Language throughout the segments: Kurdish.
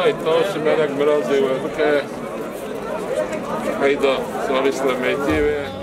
Hay taş melek mirazê we bike heyda salî slemeytî ve.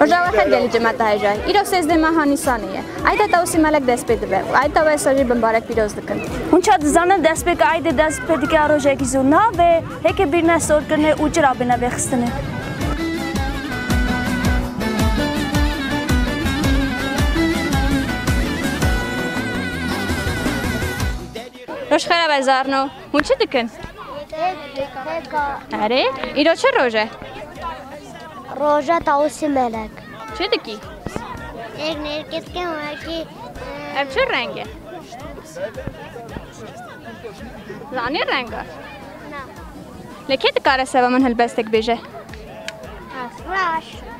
Rojawa her gelî cimet dihêje. Îro sêzdeh meha Nîsanê ye. Eyda Tewsî Melek dest pê dibe û eyda Wesa jî bimbarek pîroz dikin. Hûn çi dizanin destpêka eydê dest pê dike rojekî zû nabe, hêkê bîrne sorkirinê û cira bîne vêxistinê. Roj xera be zarno. Hûn çi dikin? Erê, îro çi roj e? Roja tawusî melek. Çi dikî? Ek nêrketken wekî. Ev çi reng e? Zanî renga? Na. Lê kê dikare seba min hilbestek bêje? Raş.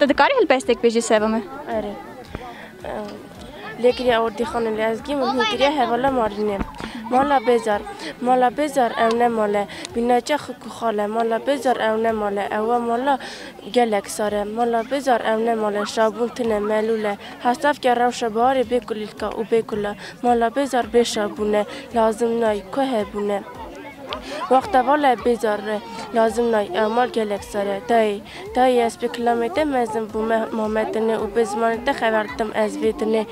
Tu dikarî hilpestek bêjî Sevime? Erê. Lêkiriya Ordîxanê li Ezgî min hînkiriya hevala Marînê. Mala Bêzar. Mala Bêzar ew ne male. Bînaçe xikû xale. Mala Bêzar ew ne male. Ew e mala gelek sar e. Mala Bêzar ew ne male. Şabûn tune, melûl e. Hesavke rewşa biharê bê kulîlka û bê kula. Mala Bêzar bê şabûn e. Lazim nayî. Ku hebûn e. Wexta vala Bêzar re. Lazim nayî. Ew mal gelek sar e. Dayê. Dayê ez bi kilamê te mezin bûm, me ma me tine û bi zimanê te xeber didim ez vê tine.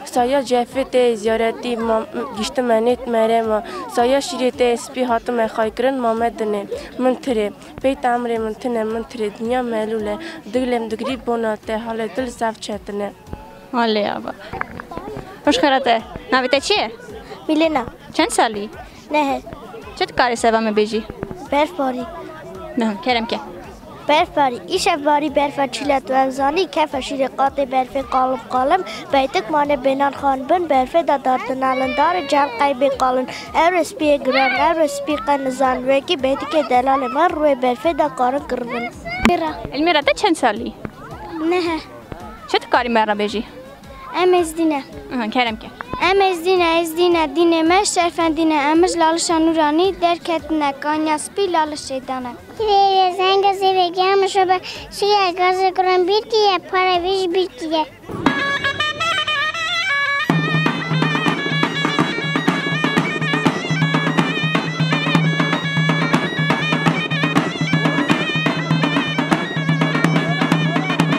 Saya cefê te yê ziyaretî ma giştime nêt mere ma. Saya şîrê te yê spî hatime xaykirin ma me dinê. Min tirê. Peyta emrê min tine min tirê. Dinya melûl e. Diglem digrî bona te halê dil zaf çetine. Alê ava. Hoş xera te. Navê te çi ye? Mîlena. Çend salî? Nehir. Çi dikarî seva min bêjî? Berfbarî. Mehûn, kerem ke. Berfbarî. Îşev barî berfa çîla tu ev zanî, kefa şîrê qatê berfê qalim qalim, beytik mane bênan xan bin berfê de dar tu nalin darê cihal qey bê qalin. Ewre spîyê giran, ewre spî qe nizan, wekî beytikê delalê me rûê berfê de karin kiribin. Mîra. Elmîra te çend salî? Nehir. Çi dikarî me re bêjî? Em Êzdîne. Kerem ke. Em Êzdîne, Êzdîne, dînê me şerfendîne. Em ji lalişa nûranî derketine, kaniya spî lalişê dane. Kirêyê zenge zêvê giya min şobe, şiya gazê guran bîr diye, para wî ji bîr diye.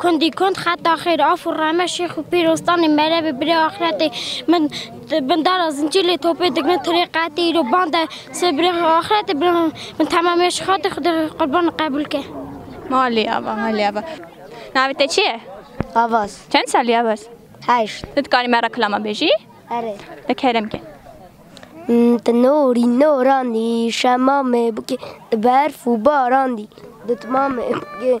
Kundî kund xeta xêr af û rehme Şêx û Pîr Ostanê merevê birê axretê min di bin dara zincîr lê topê digrin tirê qetê îro bande sê birê axretê birê min temamê ji xatê xwedê qurban qebûl ke. Malê ava malê ava. Navê te çi ye? Avaz. Çend salî Avaz? Heşt. Tu dikarî me re kilama bêjî? Erê. De kerem ke. Ti norî norandî şemamê bikê di berf û barandî di timamê bikê.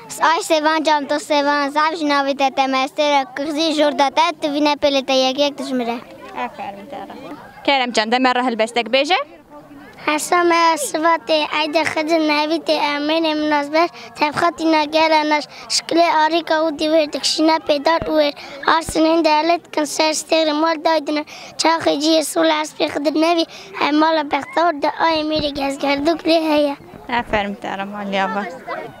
Ay sevan cam to sevan zaf ji navê te te mestê re kixzî jorda te tu vîne pêlê te yek yek dijmire. Aferin te re. Kerem can deme re hilbestek bêje. Hesa me ya Sivatê Eyde Xedir navî tê Emînê min nas ber tevxatîna gera nas şikilê arîka û dî wêr dikişîna pêdar û wêr arsin hîn dihele dikin ser stêrê mal dayî dine çaxê cî yê sol espê Xedir navî hemala bextewr de ayê mêrê gezgerdok lê heye. Aferin te re Malya be.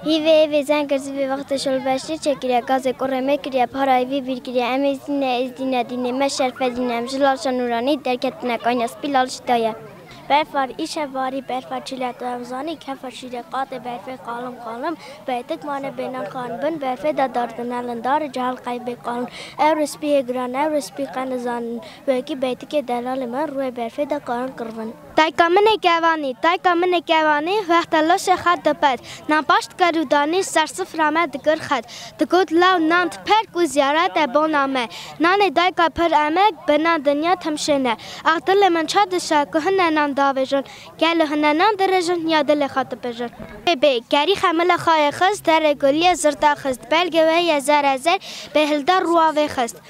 Hî vê êvê zeng kirzî vê wextê şol beşê çekiriye gazê kurê me kiriye para êvî bîr kiriye em ê zî ne êzdî ne dînê me şerfe zî ne em ji lalşa nûranî derketine kanya spî lalşî daye. Berfar îşev barî berfa çîle tu ev zanî kefa şîrê qatê berfê qalim qalim beytik mane bênan xan bin berfê de dar dinelin darê cehel qey bê qalin ewre spî hê giran ewre spî qe nizanin wekî beytikê delalê min rûyê berfê de karin kirvin. Dayka min ê kevanî, dayka min ê kevanî Wexta laşê xwe dipet Nan paş dikir û danî Ser sifra me dikir xet Digot law nan diper Ku ziyaret e bona me Nanê dayka pir emek Bi nan dinya tim şên e Ax dilê min ça dişa Ku hine nan davêjin Gel li hine nan dirêjin Ya dilê xwe dipejin. Bê bê kerî xemila xwe yê xist Derê gulî yê zirda xist Belgê wê yê zere zer Bê hilda rûa wê xist.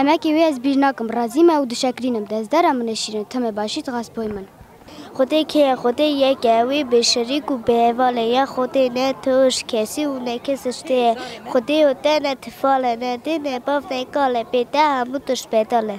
Emekê wê ez bîr nakim, razî me û dişekrînim, dezdera min e şîrin, tim e başî dixwest boy min. Xwedê kê ye? Xwedê yek e, wê bê şerîk û bê heval e, ya Xwedê ne toj kesî û ne kes ijtê ye, Xwedê û te ne tifal e, ne dê, ne bav, ne kal e, bê te hemû tişt bedal e.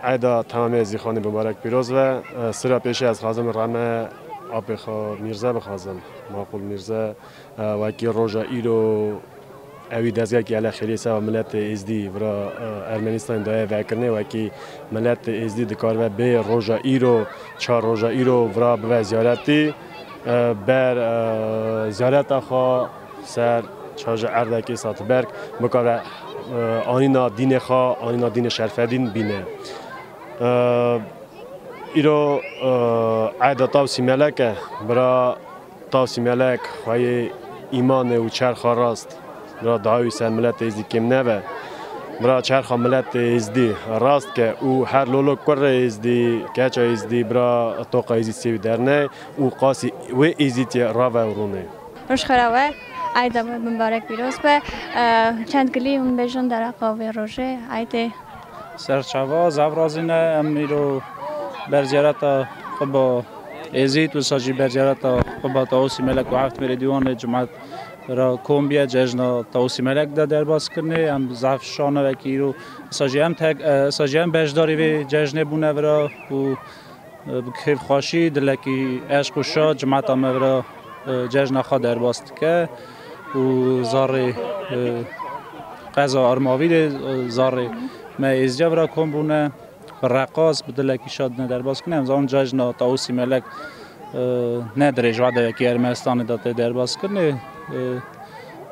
Eyda tamamê Zîxanê Mubarek pîroz be. Sira pêşê ez xwazim rame apê xwe Mîrze bixwazim. Maqûl Mîrze wekî roja îro ewî dezgehekî ele xêriyê seba miletê Êzdî vira Ermenîstanê daye vekirinê wekî miletê Êzdî dikaribe bê roja îro çar roja îro vira bibe ziyaretî ber ziyareta xwe. Ser çaje erdekê Satberg bikare anîna dînê xwe, anîna dînê Şerfedîn bîne. Îro erde Tawsî Melek e. Bira Tawsî Melek xwe yê îmanê û çerxa rast bira daha wî ser miletê Êzidî kêm nebe. Bira çerxa miletê Êzidî rast ke û her lolo kurê Êzidî, keça Êzidî bira toqa Êzidî sê wî derney û qasî wê Êzidî rave û rûnê. Roj xera be. Eyda we mibarek pîroz be. Çend gilî hûn bêjin dereqa vê rojê eydê. Serçava zaf razî ne em îro bercereta Qiba Êzîd wisa jî bercereta Qiba Tawusî Melek û Heft Mêrê Dîwanê Cumat ra kombiya cejna Tawusî Melek de derbas kirinê. Em zaf şano vekî îro wisa jî em wisa jî em beşdarî vê cejnê bûne vira û Bi kêfxweşî, dilekî eşq û şa cemata me vera cejna xwe derbas dike û zarê qeza Armavîrê, zarê me êzîca vera kom bûne. Bi reqas, bi dilekî şa dine derbas kirin. Em zanin cejna Tawusî Melek ne dirêj vadeyekî Ermenistanê de tê derbas kirinê.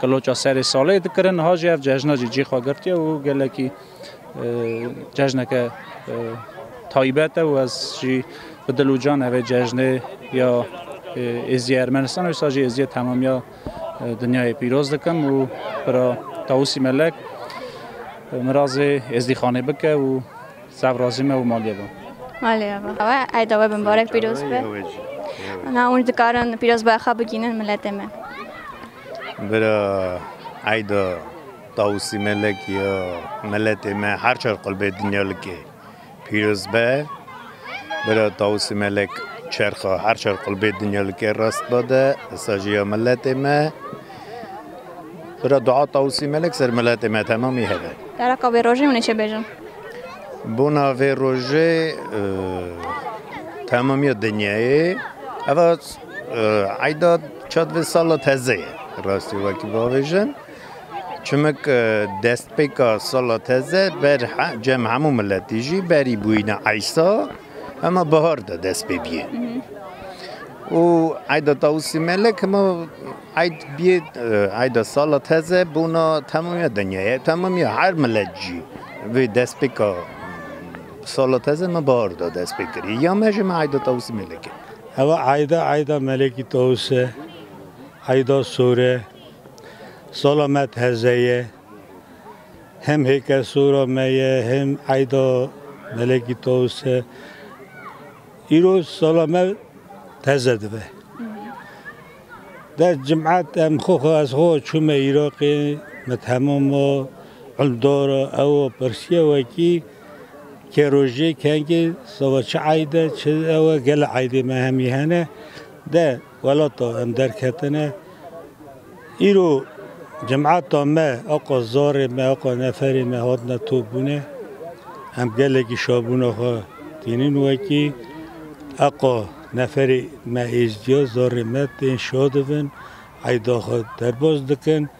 Qiloça serê salê dikirin. Niha jî ev cejna jî cî xwe girtiye û gelekî cejneke taybet e û ez jî bi dil û can evê cejnê ya Êziyê Ermenistan wisa jî Êziyê temamiya dinyayê pîroz dikim û bira Tawusî Melek mirazê Êzdîxanê bike û Saf razî me û malê be. Malê be. Ew eyda we bi mibarek pîroz be. Na hûn dikarin pîrozbaya xwe bigînin miletê me. Bira eyda Tawusî Melek ya miletê me her çar qulbê dinya like pîroz be. Bira Tawusî Melek çerxa her çar qulbê dinya like rast bide. Sajiya miletê me. Bira dua Tawusî Melek ser miletê me temamî hebe. Dereka vê rojê hûn ê çi bêjin? Bona vê rojê temamiya dinyayê eva eyda çad vê sala teze ye. Rastî wekî bavêjin. Çimik destpêka sala teze ber cem hemû miletî jî berî bûyîna eysa hema bihar de dest pê bîyê. û eyda Tawusî Melek hema eyd bîyê eyda sala teze bûna temamîya dinyayê temamîya her milet jî vê destpêka sala teze me bahar de destpê kirî ya me jî me eyda Tawusî Melek e. Heva eyda eyda Melekî Tawus e eyda sor e sala me teze ye hem hêkelsora me ye hem eyda Melekî Tawus e. Îro sala me teze dibe. Dest cum'et em xwe xwe ez xwe çûme Îraqê, me temama Îldara ewa pirsiya wekî ke rojê kengê sala çi eyde çi ewa gela eydê me hemî hene de Welata em derketine. Îro cemata me aqa zarê me aqa neferê me hatine topbûne. Em gelekî şabûna xwe tînin wekî. Aqa neferê me êzdiya zarê me tên şadibin eyda xwe derbas dikin.